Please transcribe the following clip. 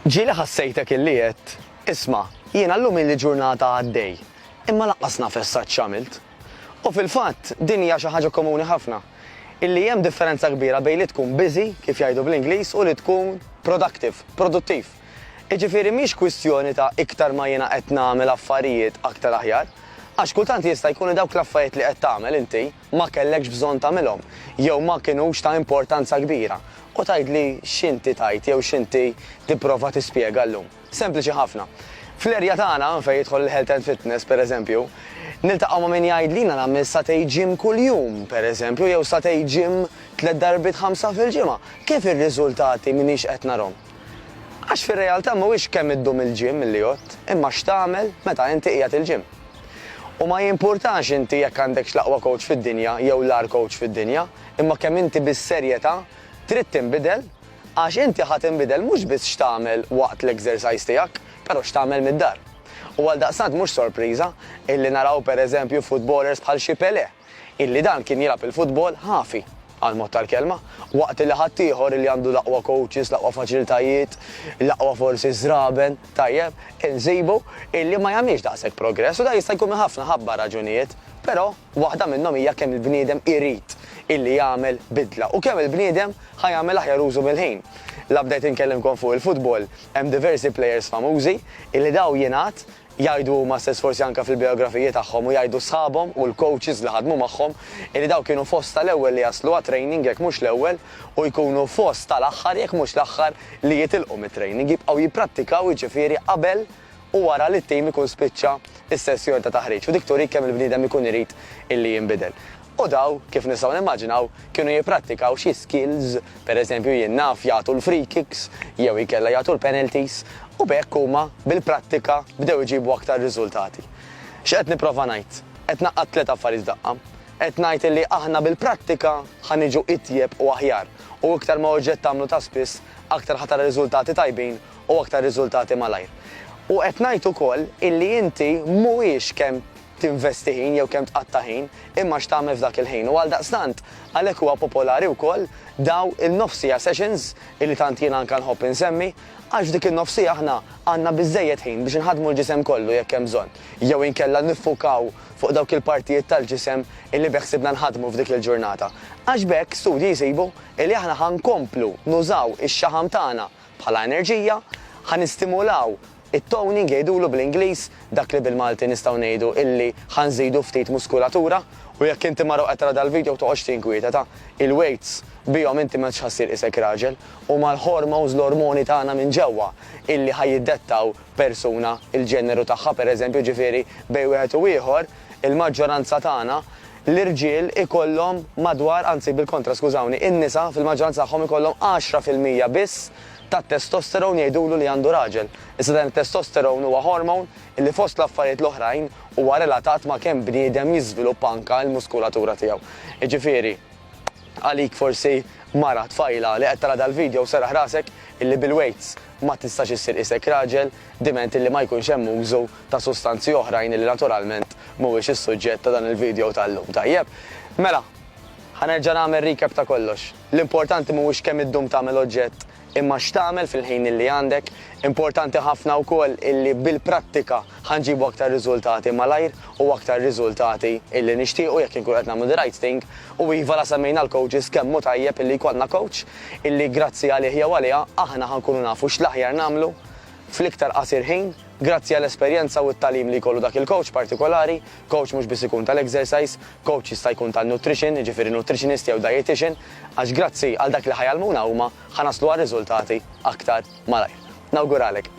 Ġieli ħassejtek illi għedt, Isma', jiena llum ili ġurnata għaddej, imma lanqas naf essa x'għamilt. U fil-fatt, din hija xi ħaġa komuni ħafna, illi hemm differenza kbira bejn li tkun busy, kif jgħidu bl-Ingliż, u li tkun productive, produttiv. Jiġifieri mhix kwistjoni ta' iktar ma jiena qed nagħmel affarijiet aktar aħjar, għax kultant jista' jkun li dawk l-affarijiet li qed tagħmel inti, ma kellekx bżonn tagħmilhom jew ma kinux ta' importanza kbira, u tgħidli x'inti tgħid jew x'inti tipprova tispjega llum. Sempliċi ħafna. Fl-erja tagħna, fejn jidħol il-health and fitness, pereżempju, niltaqgħu ma' min jgħidli jiena nagħmel satej gym kuljum, pereżempju, jew satej gym tliet darbiet ħamsa fil-ġimgħa. Kif ir-riżultati m'iniex qed narhom? Għax fir-realtà mhuwiex kemm iddum il-gym li jgħodd, imma x'tagħmel meta inti qiegħed il-gym. U ma jimpurtax inti jekk għandekx l-aqwa kowċ fid-dinja jew l-agħar kowċ fid-dinja, imma kemm inti bis-serjetà trid tinbidel, għax inti ħa tinbidel mhux biss x'tagħmel waqt l-exercise tiegħek, però x'tagħmel mid-dar. U għaldaqstant mhux sorpriża illi naraw pereżempju footballers bħal xi Pelé. illi dan kien jilgħab il-futbol ħafi, għall-mod tal-kelma, waqt illi ħaddieħor illi għandu l-aqwa kowċis, l-aqwa faċilitajiet, l-aqwa forsi żraben, tajjeb, insibu illi ma jagħmilx daqshekk progress u dan jista' jkun minn ħafna ħabba raġunijiet, però waħda minnhom hija kemm il-bniedem irid illi jagħmel bidla u kemm il-bniedem ħa jagħmel aħjar użu mill-ħin. La bdejt inkellimkom fuq il-futbol, hemm diversi plejers famużi illi daw jingħad Jgħidu huma stess forsi anke fil-bijografiji tagħhom u jgħidu sħabhom u l-coaches li ħadmu magħhom illi dawn kienu fost tal-ewwel li jaslu għat-training jekk mhux l-ewwel u jkunu fost tal-aħħar jekk mhux l-aħħar li jitilqu mit-training, jibqgħu jipprattikaw jiġifieri qabel u wara li t-tim ikun spiċċa s-sessjon ta' taħriġ u dik turik kemm il-bniedem ikun irid illi jinbidel. U dawn, kif nistgħu nimmaġinaw, kienu jipprattikaw xi skills, per eżempju jien naf jagħtu l-free kicks jew inkella jagħtu l-penalties, u b'hekk huma bil-prattika bdew iġibu aktar riżultati. X'qed nipprova ngħid? Qed ngħaqqad tliet affarijiet f'daqqa. Qed ngħid illi aħna bil-prattika ħa niġu itjeb u aħjar, u iktar ma oġġett tagħmlu ta' spiss, aktar ħa tara riżultati tajbin u aktar riżultati malajr. U qed ngħid ukoll illi inti mhuwiex kemm tinvesti ħin jew kemm tqatta' ħin, imma x'tagħmel f'dak il-ħin. U għaldaqstant, għalhekk huwa popolari wkoll daw il-nofs siegħa sessions illi tant jien anka nħobb insemmi, għax f'dik in-nofs siegħa aħna għandna biżżejjed ħin biex inħaddmu l-ġisem kollu jekk hemm bżonn, jew inkella niffukaw fuq dawk il-partijiet tal-ġisem illi beħsibna nħaddmu f'dik il-ġurnata. Għax b'hekk studji jsibu illi aħna ħa nkomplu nużaw ix-xaħam tagħna bħala enerġija, ħa nistimulaw It-toning jgħidulu bl-Ingliż dak li bil-Malti nistgħu ngħidu illi ħa nżidu ftit muskulatura u jekk inti mara u qed tara dal-video toqgħodx tinkwieteta, il-weights bihom inti m'għadx ħa ssir qisek raġel, huma l-hormones l-ormoni tagħna minn ġewwa illi ħa jiddettaw persuna il-ġeneru tagħha pereżempju ġifieri bejn wieħed u ieħor il-maġġoranza tagħna l-irġiel ikollhom madwar anzi bil-kontra skużawni in-nisa fil-maġġoranza tagħhom ikollhom għaxra fil-mija biss tat-testosterone jgħidulu li għandu raġel, iżda dan it-testosterone huwa hormone illi fost l-affarijiet l-oħrajn huwa relatat ma' kemm bniedem jiżviluppa anka l-muskulatura tiegħu. Jiġifieri, għalik forsi mara, tfajla, li qed tara dal-video serraħ rasek illi bil-weights ma tistax issir qisek raġel, diment illi ma jkunx hemm użu ta' sustanzi oħrajn illi naturalment mhuwiex is-suġġett ta' dan il-video tal-lum. Tajjeb. Mela, ħa nerġa' nagħmel recap ta' kollox. L-importanti mhuwiex kemm iddum tagħmel oġġett imma x'tagħmel fil-ħin illi għandek. Importanti ħafna wkoll illi bil-prattika ħa nġibu aktar riżultati malajr u aktar riżultati illi nixtiequ jekk inkunu qed nagħmlu the right thing. U iva la semmejna l-coaches kemm hu tajjeb illi jkollna coach illi grazzi għalih jew għaliha aħna ħa nkunu nafu x'l-aħjar nagħmlu fl-iktar qasir ħin. Grazzi għall-esperjenza u t-tagħlim li jkollu dak il-kowċ partikolari, kowċ mhux biss ikun tal-exercise, kowċ jista' jkun tan-nutrition, jiġifieri nutritionist jew dietician, għax grazzi għal dak li ħa jgħallmuna huma ħa naslu għar-riżultati aktar malajr. Nawguralek!